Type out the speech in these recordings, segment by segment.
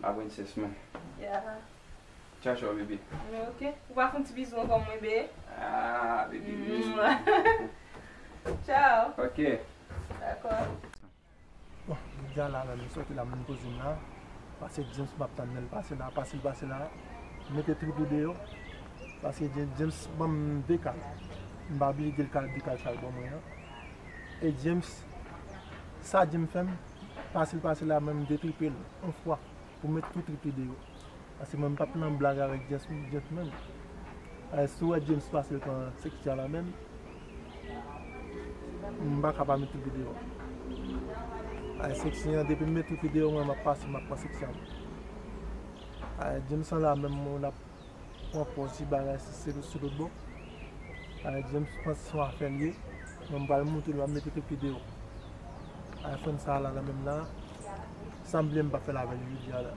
La princesse mwen. Yeah. Ciao ciao bébé. Mwen ok. Ou pa foun ti bizou ankò mwen be. Ah bébé bisous. Ciao. Ok. Dakò. Bon, m deja la menm, m sòti la m vin kouzin la, pase James map tann lèl pase la, pase l pase la, m mete trip ou deyò, pase James, James banm 2 kal, m pa oblije dil kal 2 kal sal ban mwen an, e James sa James fèm. pase l pase la mwen m detripe l on fwa pou met tout trip li deyò paske mwen m pap nan blag avèk James menm paske si w wè James pase l pran sèk Jala menm m paka pa met trip li deyò paske sèk si an depi m met trip li deyò mwen m ap pase m ap pran sèk si an paske James an la menm mwen l ap. Wap wè yon ti bagay sou se sou lòt bò. Alè James panse son afè l ye. Mwen m pral moute l map mete kèk video. Iphone sa la nan menm la. Sam bliye m pa fèl avèl jodi a la.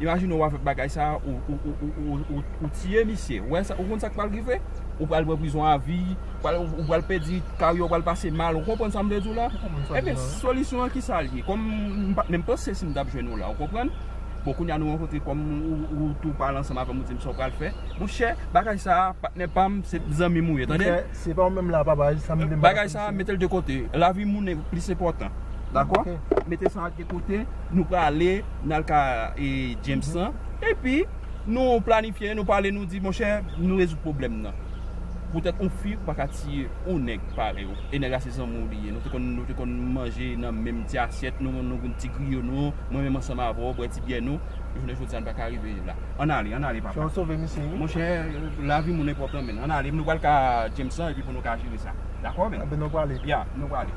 Imajine wap fè bagay sa ou tiye misye ou konn sak pral rive ou pral pran prizon avi ou pral pèdi karyè ou pral pase mal ou konprann sam vle diw la ebyen solisyon an kisa liye kòm m pat menm panse sim tap jwenn ou la ou konprann bon kounya nou rankontre kòm ou tou pale ansanm avèm ou dim sa ou pral fè monchè bagay sa patnè pam se zanmim ou ye tande bagay sa metel de kote lavi moun plis enpòtan dakò mete sa. Kote nou prale nal ka e James lan epi nou planifye nou pale nou di monchè nou rezoud pwoblèm nan poutèt on fi ou paka tiye on nèg parèy ou e nèg la se zanmi w li ye nou te konn nou te konn manje nan menm ti asyèt nou nou konn ti griyo nou mwen menm ansanm avè w bwè ti byè nou jounen jodi n pa ka rive la ann ale ann ale papa monchè lavi moun enpòtan menn ann ale nou pral ka James lan epi pou nou ka jere sa dakò menn ya nou prale.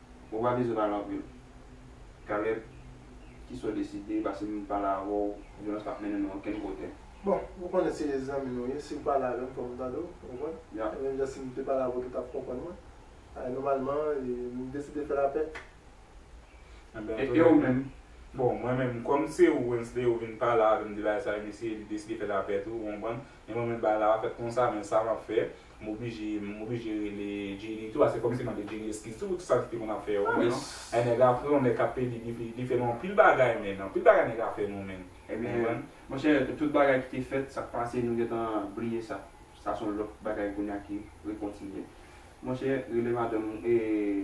Ou pa bezwen pale anpil. Caleb, Kisa w deside? Pase m pale avè w. Vyolans pap mennen nou okenn kote. Bon, ou konnen se zanmi nou ye. Si w pale avè m, fò m tande w. Ou konprann? E menm jan si m te pale avè w tou, w t ap konprann mwen. E nòmalman, m deside fè lapè. E ou menm? Bon, mwen menm, kòm se ou, Wensley, ou vin pale avè m de bagay sa yo, m eseye deside fè lapè tou. Ou konprann? E mwen menm, bagay la pa fèt konsa, men sa m ap fè, M oblije m oblije rele Jenny tou ase fòm si mande Jenny eskiz tou pou tout sa li te konn ap fè yo menn e nèg a pran nèg kap pedi li fè nou anpil bagay menn anpil bagay nèg a fè nou menn konprann. Monchè tout bagay ki te fèt sak pase nou gentan bliye sa sa son lòt bagay kounya ki rekontinye monchè rele madanm ou e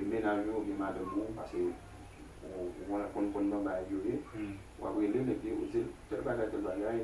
mennaj ou oubyen madanm ou pase ou konn konn banbay yo ye wap relel epi ou dil tèl bagay tèl bagay.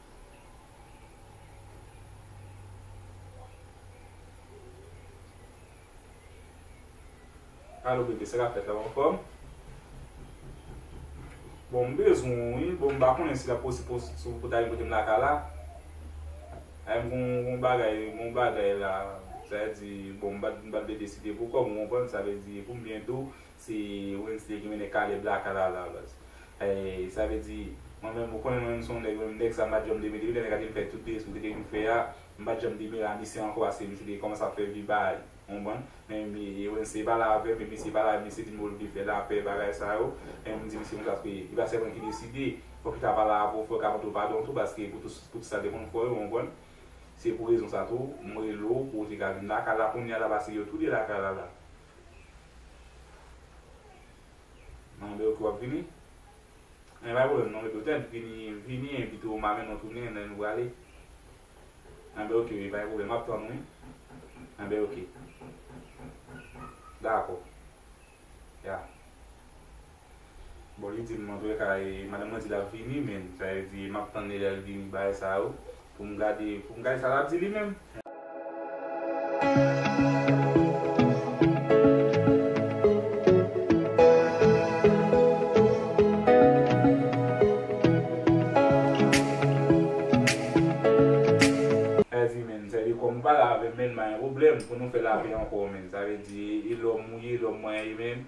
Alo bebe sa kap fèt la ou anfòm? Bon m bezwen w wi, bon m pa konnen si lap posib pou w ta vin kote m lakay la Anh m gon bagay m gon bagay la sa vle di bon m bat m bat bebe si te pou kòm ou konprann sa vle di pou m byen di w Se Wednesday ki mennen Caleb la ak Alaa Lawlaz. Eey sa vle di mwen menm ou konnen mwen menm son nèg mwen menm nèg sa mpa janm deme depi lè nèg a te vin fè tout de soude ke vin fè a mpa janm deme Ranisè ankò ase yon jou li kòmanse ap fè vi baay ou konprann men Wednesday pale avèm epi misye pale avèm misye dim ke li vle fè lapè bagay sa yo men mdi misye konsa paske li pa sèl mwen ki deside fòk li ka pale avèw fòl ka mandew padon tou paske pou tout sa te konn fè yo ou konprann se pou rezon sa tou mwen relew pouw te ka vin lakay la kounya la paske yo tou de lakay la la Nan de ok wap vini. Nan pa problem non epi tet vini vini epi tou ma menw tounen nan nou prale. Nan de ok epa gen problem map tann ou wi. Nan de ok. Dako. Ya. Bon li dim mwen vle kay madanm mwen di lap vini men sa vle di map tann li lèl vini bay sa yo poum gade poum gade sa lap di li menm. Sa vle di men sa vle di kòm ou pala avèm menn pa gen pwoblèm pou nou fè lapè ankò menn sa vle di e lòm ou ye lòm mwen ye menn.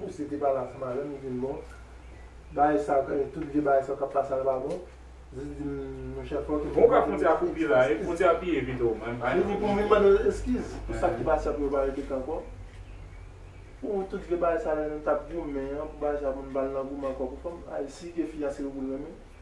Ou se te pala fè malèm ou vin bon bagay sa yo tout vye bagay sa yo kap pase ala pa bon jis dim monchè fòk ou vin Bon kap frontyè a koupe la wi frontyè a piye vit oh mwen pa Vini pou vin mande l eskiz pou sak ki pase a pou yo pa repete ankò pou tout vye bagay sa yo lè nou tap goumen an pou bagay sa yo pou nou pa al nan goumen ankò pou fanm ay si ke fi a se yo pou l renmen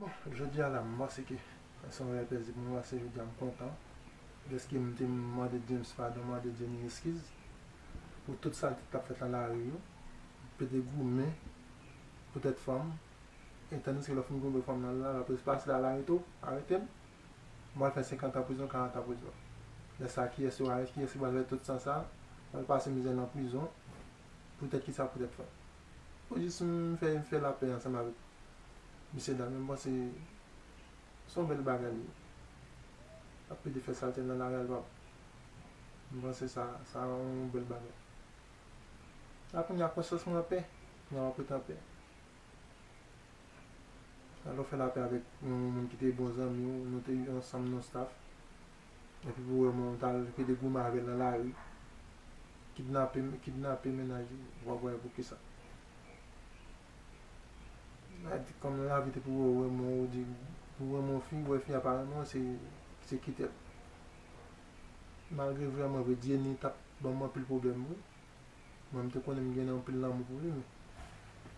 Bon jodi a la m panse ke se yon rèy pèdi pou mwen paske jodi a m kontan dèske m te mande James padon, m mande Jenny eskiz pou tout salte ki t ap fèt nan lari yo, m te de goumen pou tèt fanm e tandiske lè w fin goumen pou fanm nan lari la polis pase la l arete w, arete m, m pral fè senkantan prizon, karantan prizon. Lè sa a kiyès yo arete, kiyès ki pral fè tout san sa a, pral pase mizè nan prizon pou tèt kisa pou tèt fanm. Mwen jis fè fè lapè ansanm avèk mesye dam yo m panse se yon bèl bagay li ye l ap pede fè salte l nan lari al pa pou m panse sa sa yon bèl bagay la kounye a konsyans mwen anpè kounye a m ap ret anpè lè w fè lapè avèk yon moun ki te bon zanmi w nou te ansanm nou staff. Epi pou wè moun tal kite goumen avèl nan lari kidnape kidnape mennaj li wap wè poukisa Nadi kòm nan lavi depi wè ou renmen ou di ou renmen yon fi ou wè fi a pa renmen ou se se kitel malgre vre mwen vre Dieunie tap banm anpil problèm wi mwen mte konnen mgen anpil lanmou pou li men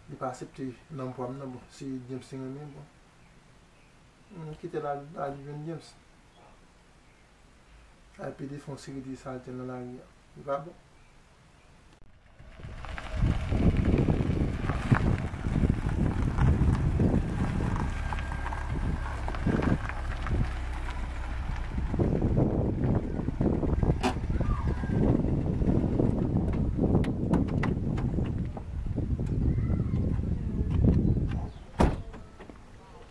li pa asepte lanpwam nan bon si James te renmen bon. M kitel al al jwenn James. Al pede fon seri de salte nan lari an. Li pa bon.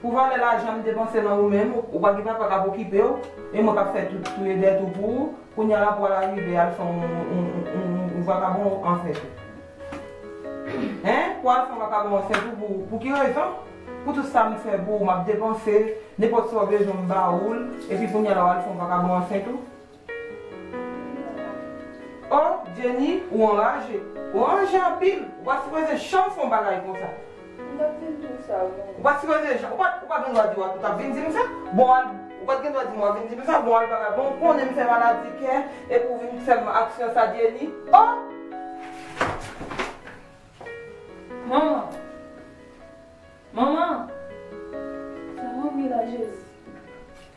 Pou valè lajan m depanse nan ou menm, ou pa gen papa k ap okipe w, e mwen k ap fè tout touye dèt ou pou ou, kounye a la pou al arive al fè yon vakabon an fè tou? Hein? Pou al fè yon vakabon an fè tou pou ou? Pou ki rezon? Pou tout sa m fè pou ou, m ap depanse, nenpòt sa ou bezwen m ba ou l, epi kounye a la w al fè yon vakabon an fè tou? Oh Jenny ou anraje. Ou anraje anpil. Ou pa sipoze janm fon bagay konsa. M tap vin dim sa wi mwen. Ou pa sipoze janm. Ou pat ou pat gen dwa di wap ou tap vin dim sa. Bon al ou pat gen dwa dim wap vin dim sa bon al bagay bon ou konnen m fè maladi kè epi ou vin fèm aksyon sa Jenny oh. Manman Manman Sa manmi la Jezi.